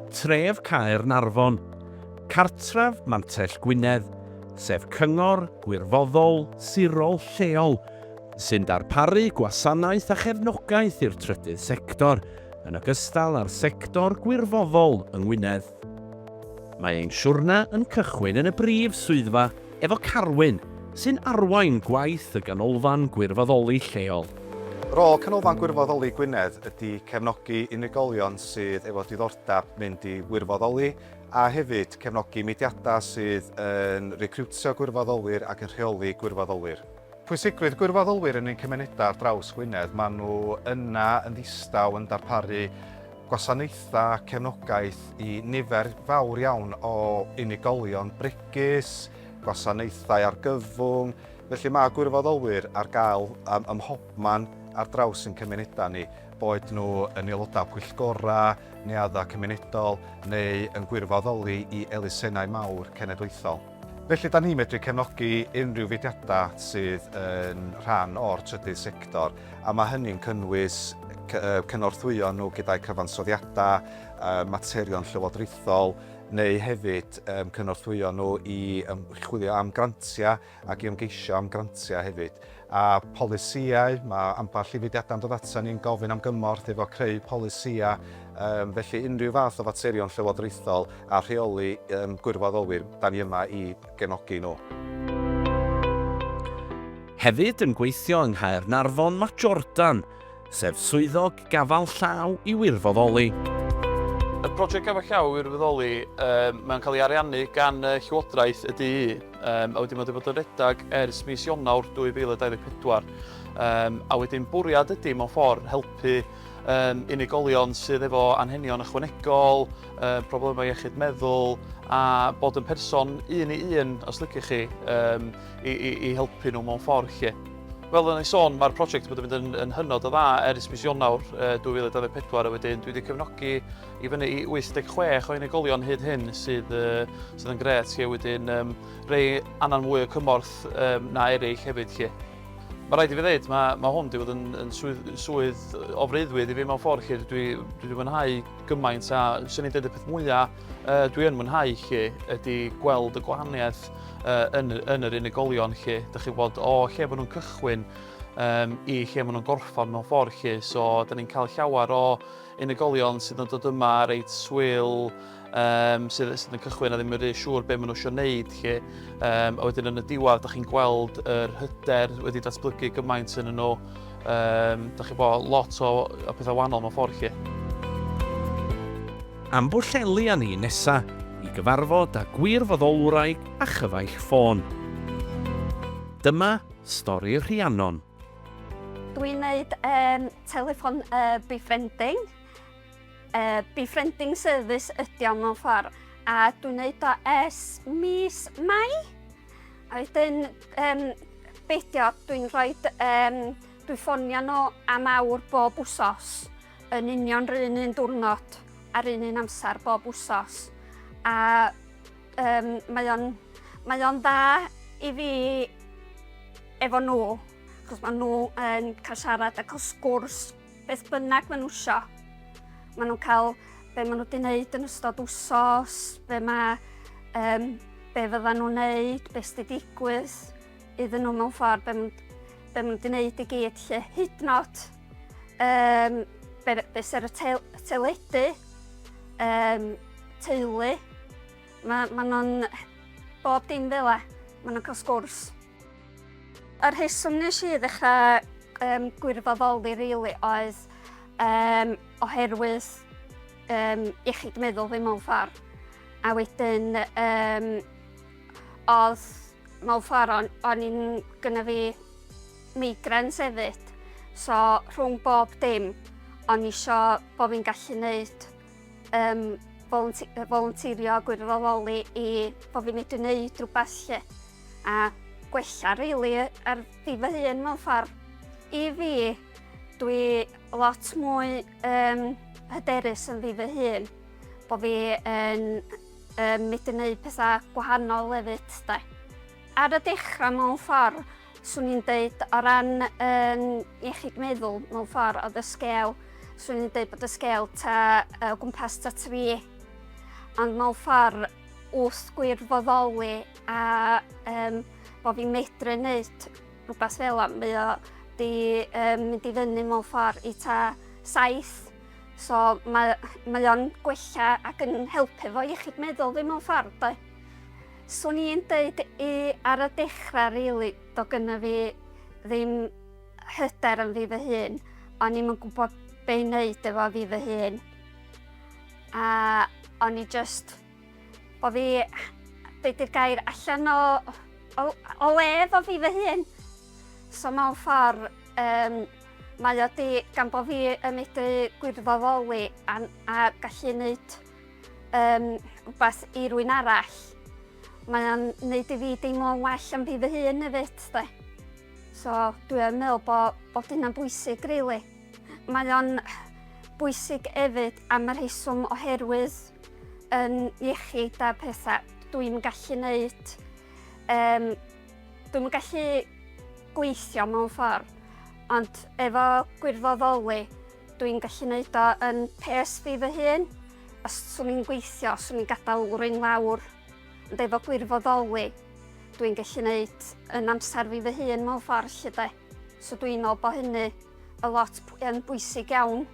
Tref Caernarfon, cartref Mantell Gwynedd, sef cyngor gwirfoddol sirol lleol sy'n darparu gwasanaeth a chefnogaeth i'r trydydd sector, yn ogystal â'r sector gwirfoddol yng Ngwynedd. Mae ein siwrne yn cychwyn yn y brif swyddfa efo Carwyn, sy'n arwain gwaith y Ganolfan Gwirfoddoli lleol. Rôl Canolfan Gwirfoddoli Gwynedd ydy cefnogi unigolion sydd efo diddordeb mynd i wirfoddoli a hefyd cefnogi mudiadau sydd yn recriwtio gwirfoddolwyr ac yn rheoli gwirfoddolwyr. Pwysigrwydd gwirfoddolwyr yn ein cymunedau ar draws Gwynedd, maen nhw yna yn ddistaw yn darparu gwasanaethau a cefnogaeth i nifer fawr iawn o unigolion bregus, gwasanaethau argyfwng, felly mae gwirfoddolwyr ar gael ym, ym mhobman ar draws ein cymunedau ni, boed nhw yn aelodau pwyllgorau, neuaddau cymunedol neu yn gwirfoddoli i elusennau mawr cenedlaethol. Felly, da ni'n medru cefnogi unrhyw fudiadau sydd yn rhan o'r trydydd sector, a mae hynny'n cynnwys cynorthwyo nhw gyda'u cyfansoddiadau, materion llywodraethol, neu hefyd cynorthwyo nhw i chwilio am grantiau ac i ymgeisio am grantiau hefyd. a pholisïau, mae ambell i fudiadau'n dod atan ni'n gofyn am gymorth efo creu polisïau, yym, felly unrhyw fath o faterion llywodraethol a rheoli yym gwirfoddolwyr, da ni yma i gefnogi nhw. Hefyd yn gweithio yng Nghaernarfon mae Jordan, sef Swyddog Gafal Llaw i Wirfoddoli. Y project Gafal Llaw i Wirfoddoli, yym, mae'n cael ei ariannu gan yy Llywodraeth y du, Um, a wedyn mae wedi bod yn redag ers mis Ionawr 2024. Um, a wedyn bwriad ydy mewn ffordd helpu um, unigolion sydd efo anhenion ychwanegol, um, problemau iechyd meddwl a bod yn person un i un, os lygych chi, um, i, i, i helpu nhw mewn ffordd lle. Fel yn ei sôn, mae'r prosiect wedi mynd yn, yn hynod o dda ers mis Ionawr uh, 2024 a wedyn dwi wedi cefnogi i fyny i 86 o unigolion hyd hyn sydd, uh, sydd yn gret lle wedyn um, rei annan mwy o cymorth um, na eraill hefyd lle. Mae rhaid i fi ddeud, mae, mae hwn wedi bod yn, yn swydd, swydd o freuddwyd i fi mewn ffordd lle dwi, dwi wedi mwynhau gymaint a sy'n ei dweud y peth mwyaf uh, dwi yn mwynhau lle ydy gweld y gwahaniaeth uh, yn, yn yr unigolion lle. Dych chi bod o lle maen nhw'n cychwyn um, i lle maen nhw'n gorffan mewn ffordd lle. So, da ni'n cael llawer o unigolion sydd yn dod yma reit swil, um, sydd, sydd yn cychwyn a ddim yn rhy siŵr beth maen nhw eisiau gwneud chi. Um, a wedyn yn y diwedd, da chi'n gweld yr hyder wedi datblygu gymaint yn nhw. Um, da chi'n bod lot o, o pethau wahanol mewn ffordd chi. Am bwllelu â ni nesa i gyfarfod â gwirfoddolwraig a chyfaill ffôn. Dyma stori Rhiannon. Dwi'n gwneud um, telefon uh, befriending. Uh, befriending service ydy o'n mewn ffordd. A dwi'n gwneud o es mis Mai. A wedyn, um, beidio, dwi'n rhoi... Um, dwi'n ffonio nhw am awr bob wsos yn union rhan un diwrnod a'r un un amser bob wsos. A Um, mae o'n mae o'n dda i fi efo nhw, achos maen nhw yn cael siarad ac os gwrs beth bynnag maen nhw isio. Maen nhw'n cael be maen nhw wedi wneud yn ystod wsos, be, ma, um, be fydda nhw'n wneud, beth sydd wedi digwydd iddyn nhw mewn ffordd, be maen nhw wedi wneud i gyd lle hyd nod Um, be, be ser y tel, teledu, um, teulu, mae ma nhw'n bob dim fel e, mae nhw'n cael sgwrs. Yr heswm nes i ddechrau um, gwirfoddoli rili oedd um, oherwydd um, iechyd meddwl fi mewn ffordd. A wedyn, um, oedd mewn ffordd o'n, on i'n gyda fi migraines efyd, so rhwng bob dim o'n i isio bod fi'n gallu gwneud um, volunteerio a gwirfoddoli i bod fi'n medru gwneud rhywbeth lle a gwella really ar fi fy hun mewn ffordd. I fi, dwi lot mwy um, hyderus yn fi fy hun, bod fi yn um, medru gwneud pethau gwahanol hefyd. Da. Ar y dechrau mewn ffordd, Swn i'n deud o ran yn iechyd meddwl mewn ffordd oedd y sgel, swn i'n deud bod y sgel ta o gwmpas ta tri, ond mewn ffordd wrth gwirfoddoli a um, bod fi'n medru wneud rhywbeth fel am, mae o di um, mynd i fyny mewn ffordd i ta saith, so mae, mae o'n gwella ac yn helpu fo iechyd meddwl fi mewn ffordd. Da. Swn i'n deud i ar y dechrau rili do gynna fi ddim hyder yn fi fy hun. O'n i'm yn gwybod be' i wneud efo fi fy hun. A o'n i just o fi be' 'di'r gair allan o o o le efo fi fy hun. So mewn ffordd um, mae o 'di gan bo' fi yn medru gwirfoddoli a a gallu neud um, rhywbeth i rwy'n arall. Mae o'n neud i fi deimlo'n well am fi fy hun hefyd, de. So, dwi'n meddwl bod, bod hynna'n bwysig, really. Mae o'n bwysig hefyd am yr heiswm oherwydd yn iechyd a pethau dwi'n gallu neud. Um, dwi'n gallu gweithio mewn ffordd, ond efo gwirfoddoli, Dwi'n gallu neud o yn pes fi fy hun. Os swn i'n gweithio, swn i'n gadael rwy'n lawr. Ond efo gwirfoddoli, dwi'n gallu neud yn amser fi fy hun mewn ffordd lle de. So dwi'n meddwl bod hynny y lot yn bwysig iawn.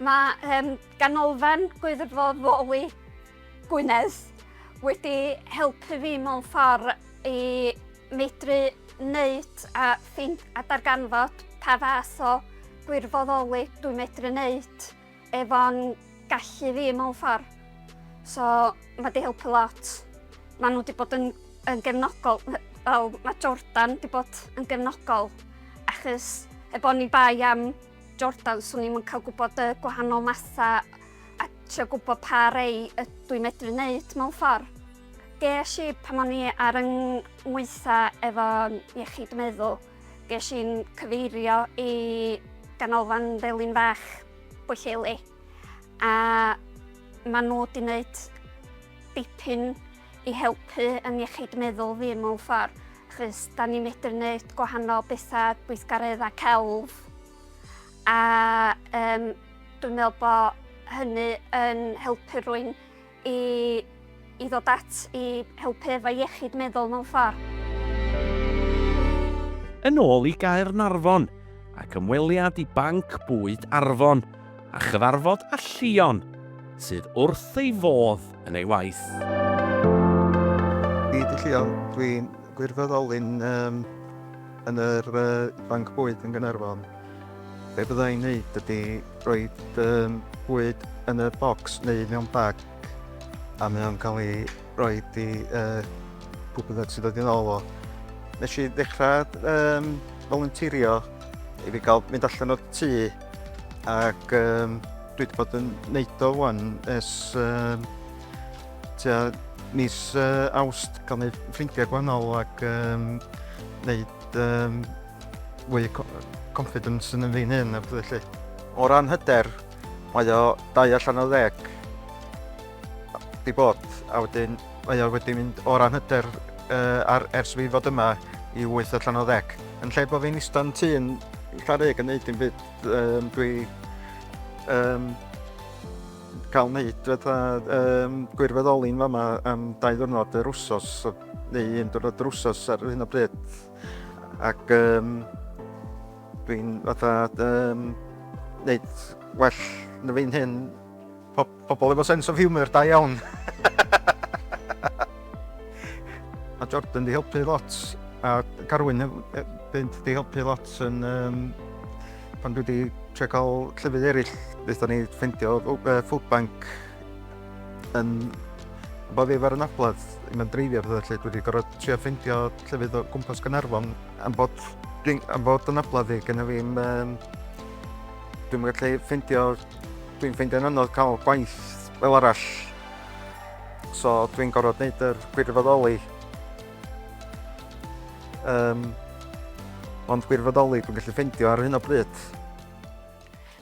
Mae um, ganolfan gwirfoddoli Gwynedd wedi helpu fi mewn ffordd i Medru wneud a ffeind a darganfod pa fath o gwirfoddoli dwi'n medru wneud efo'n gallu fi mewn ffordd. So mae wedi helpu lot. Maen nhw wedi bod yn, yn gefnogol, fel mae Jordan wedi bod yn gefnogol, achos heb o'n i bai am Jordan, swn i'n cael gwybod y gwahanol mathau a trio gwybod pa rei ydw i'n medru wneud mewn ffordd. Ges i pan o'n i ar yng ngweitha efo iechyd meddwl, ges i'n cyfeirio i ganolfan Felin Fach Bwylleli a maen nhw wedi gwneud dipyn i helpu yn iechyd meddwl fi mewn ffordd achos da ni'n medru gwneud gwahanol bethau gweithgareddau celf a um, dwi'n meddwl bod hynny yn helpu rwy'n i, i ddod at i helpu efo iechyd meddwl mewn ffordd. Yn ôl i Gaernarfon, ac ymweliad i Banc Bwyd Arfon a chyfarfod â Llion, sydd wrth ei fodd yn ei waith. Hyd y Llion, dwi'n gwirfoddolyn yn yr Banc Bwyd yn Gaernarfon. Be bydda i'n neud ydi roid um, bwyd yn y bocs neu mewn bag a mae o'n cael ei roi i uh, pwy bynnag sy'n dod i'n ôl o. Nes i ddechrau um, volunteerio i fi gael mynd allan o'r tŷ ac um, dwi wedi bod yn neud o wan es um, tua mis uh, awst gael neud ffrindiau gwahanol ac um, neud um, fwy o confidence yn fi'n hyn a pethau felly. O ran hyder, mae o dau allan o ddeg di bod a wedyn mae o wedi mynd o ran hyder uh, ar, ers fi fod yma i 8 allan o ddeg. Yn lle bod fi'n ista'n tu yn Llareg yn neud dim byd, um, dwi um, cael wneud fatha um, gwirfoddoli'n fama am dau ddwrnod yr wsos neu un diwrnod yr wsos ar hyn o bryd. Ac um, dwi'n fatha um, neud well na fi'n hyn. Po pobl efo sense of humour, da iawn. Mae Jordan di helpu lot, a Carwyn fynd di helpu lot yn... Um, pan dwi wedi trio cael llefydd eraill, wnaethon ni ffeindio uh, food bank Yn boddi ar y nabledd, mae'n dreifio a pethau felly, dwi wedi gorfod trio ffeindio llefydd o gwmpas Gaernarfon. Am bod, am bod y nabledd i, gyda fi'n... Um, dwi'n gallu ffeindio... Dwi'n ffeindio'n anodd cael gwaith fel arall. So dwi'n gorfod gwneud yr gwirfoddoli. Um, ond gwirfoddoli dwi'n gallu ffeindio ar hyn o bryd.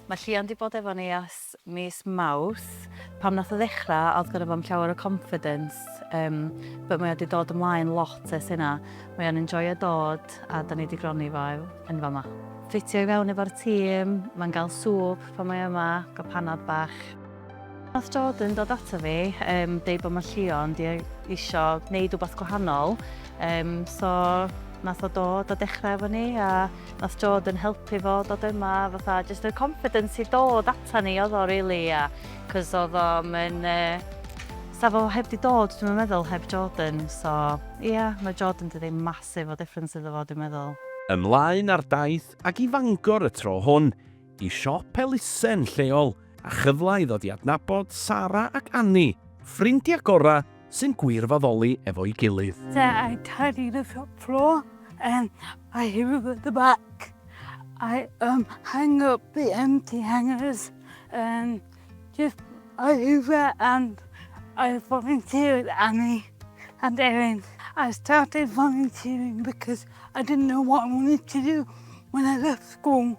Mae Llian wedi bod efo ni ers mis Mawrth, pam nath o ddechra odd gynno fo'm llawer o confidence yym but mae o di dod ymlaen lot ers hynna, mae o'n enjoio dod a da ni di gronni fo yn fama. Ffitio i fewn efo'r tîm, mae'n gael swp pan mae yma, gael panad bach. Nath Jordan dod ata fi yym deud bod Mallio'n di isio neud wbath gwahanol yym so nath o dod a dechra efo ni a Nath Jord yn helpu fo dod yma a fatha jyst y confidence i dod atan ni odd o rili a 'c'os odd o'm yn yy 'sa fo heb 'di dod dwi'm yn meddwl heb Jordan so ia ma' Jordan 'di neud massive o difference iddo fo dwi'n meddwl. Ymlaen ar daith ag i Fangor y tro hwn i siop elusen lleol a chyfle i ddod i adnabod Sara ac Anni, ffrindiau gorau sy'n gwirfoddoli efo'i gilydd. I tidy the shop floor and I hoover the back. I um, hang up the empty hangers and just I hoover and I volunteer with Anni and Erin. I started volunteering because I didn't know what I wanted to do when I left school.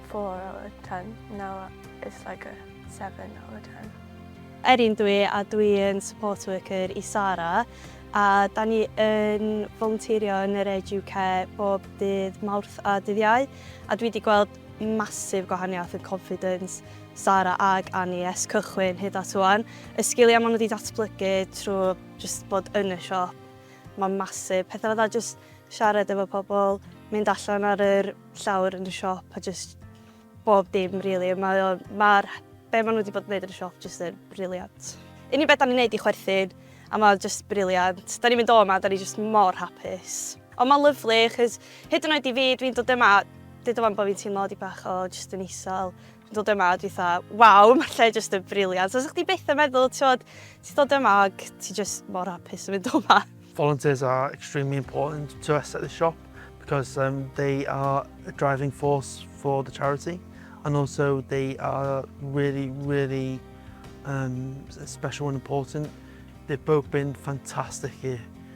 Four out of ten. Now it's like a seven out of ten. Erin dw i a dwi yn support worker i Sara a da ni yn volunteerio yn yr Edge UK bob dydd Mawrth a dydd Iau a dwi wedi gweld masif gwahaniaeth yn confidence Sara ag Annie es cychwyn hyd at wan. Y sgiliau maen nhw wedi datblygu trwy just bod yn y siop, mae'n masif. Pethau fatha just siarad efo pobl, mynd allan ar yr llawr yn y siop a jyst bob dim rili. Mae o... Mae'r... Be maen nhw wedi bod yn neud yn y siop jyst yn briliant. Unig beth da ni'n neud i chwerthin a mae o jyst briliant. Da ni'n mynd o yma, da ni jyst mor hapus. Ond mae'n lyfli achos hyd yn oed i fi, dwi'n dod yma, deud 'wan bod fi'n teimlo dipyn bach o jyst yn isel. dod yma a dwi tha, waw, mae'r lle jyst yn briliant. Os chdi byth yn meddwl, ti'n ti dod yma ac ti jyst mor hapus yn mynd o yma. Volunteers are extremely important to us at the shop because um, they are a driving force for the charity and also they are really, really um, special and important. They've both been fantastic here.